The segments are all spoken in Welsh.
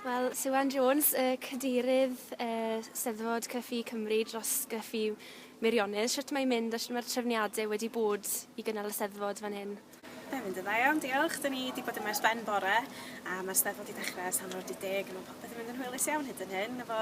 Wel, Siwan Jones, y cadeirydd uh, Steddfod Cryffu Cymru dros Gryffu Meirionnydd, sut mae'n mynd a sut mae'r trefniadau wedi bod i gynnal y Steddfod fan hyn? Mae'n mynd yn dda iawn, diolch. Dyn ni wedi bod yma ers ben bore a mae'r steddfod wedi dechrau ers hanner awr 10 a mae popeth yn mynd yn hwylus iawn hyd yn hyn efo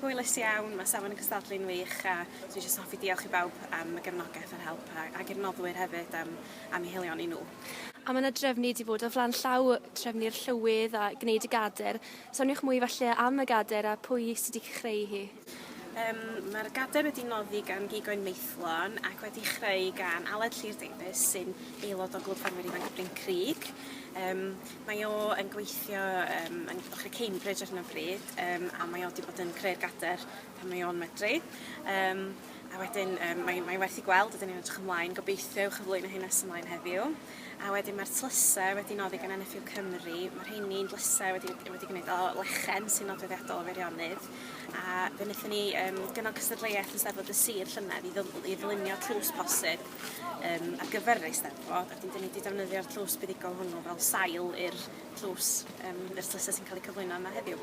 Hwylus iawn, mae safon y cystadlu'n wych a dwi jyst yn hoffi diolch i bawb am y gefnogaeth a'r help a ac i'r noddwyr hefyd am am eu helioni nhw. A mae 'na drefnu 'di bod o flaen llaw, trefnu'r llywydd a gwneud y gader. Soniwch mwy falle am y gader a pwy sy 'di chreu hi? Yym mae'r gader wedi noddi gan Gig Oen Maethlon ac wedi chreu gan Aled Llŷr Davies sy'n aelod o Glwb Ffermwyr Ifanc Bryn Crug. Yym Mae o yn gweithio yym yn Llywodraeth Cambridge ar hyn o bryd yym a mae o 'di bod yn creu'r gader pan mae o'n medru yym a wedyn yym mae mae werth 'i gweld a 'dyn ni'n edrych ymlaen gobeithio i'w chyflwyno hi nes ymlaen heddiw a wedyn ma'r tlyse wedi noddi gan NFU Cymru ma' rheini'n dlyse wedi wedi gneud o lechen sy'n nodweddiadol o Feirionydd a fe nethon ni yym gynnal cystadleuaeth yn Steddfod y Sir llynedd i dd- i ddylunio tlws posib um, ar gyfer yr Eisteddfod, ac wedyn ni wedi defnyddio'r tlws buddugol hwnnw fel sail i'r tlws um, yr tlysau sy'n cael eu cyflwyno yma heddiw.